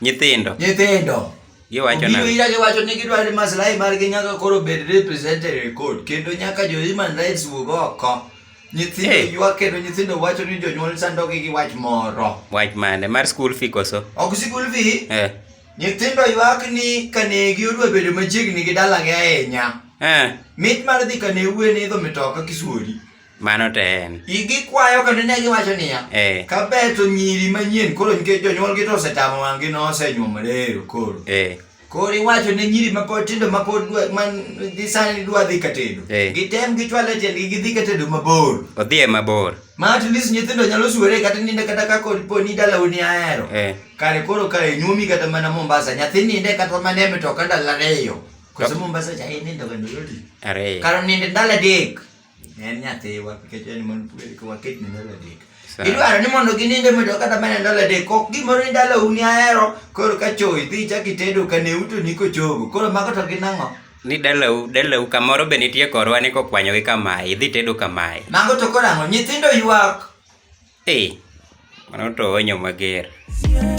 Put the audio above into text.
Nyithindo. Nyithindo. Giwacho na. Giwira giwacho ni gidwaro ni maslahi margi nyaka koro bed represented e court kendo nyaka jo human rights wuog oko. Nyithindo hey. ywa kendo nyithindo wacho ni jonyuol sandogi gi wach moro. Wach mane? Mar school fee koso? Ok school fee. Eh. Nyithindo ywak ni kanegi odwa bedo machiegni gi dalagi ahinya. Eh. Mit mar dhi kane wuwe ni idho mitoka kisuori. Mano to en. Igi kwayo kendo ne giwacho niya, Eh. kaber to nyiri manyien koro nikech jonyuolgi to osetamo wang'gi nosenyuomore ero koro. Eh. Koro iwacho ne nyiri mapod tindo mapod dwa man dhi sani dwa dhi katedo. Eh. Gitem gichwale tiendgi gidhi katedo mabor. Odhi e mabor. Ma at least nyithindo nyalo suore kata ninde kata ka kod po ni dala uni ahero. Eh. Kare koro kare nyumi kata mana Mombasa nyathi ninde kata mana e mtoka ndalo ariyo. Koso Mombasa cha inindo kendo yoti. Ariyo. Karo ninde ndalo adek. en nyathiwa nikech en mon waket ne ndalo adek idwaro ni mondo gininde medo kata mana ndalo adek ok gimoro ni ndalo uni ahero koro ka choy dhi chak itedo ka ne uto ni kochogo koro mago to gin ang'o ni dalau dalau kamoro be nitie korwa ni kokwanyo gi kamae idhi tedo kamae mago to koro ang'o nyithindo ywak ee mano to onyo mager yeah.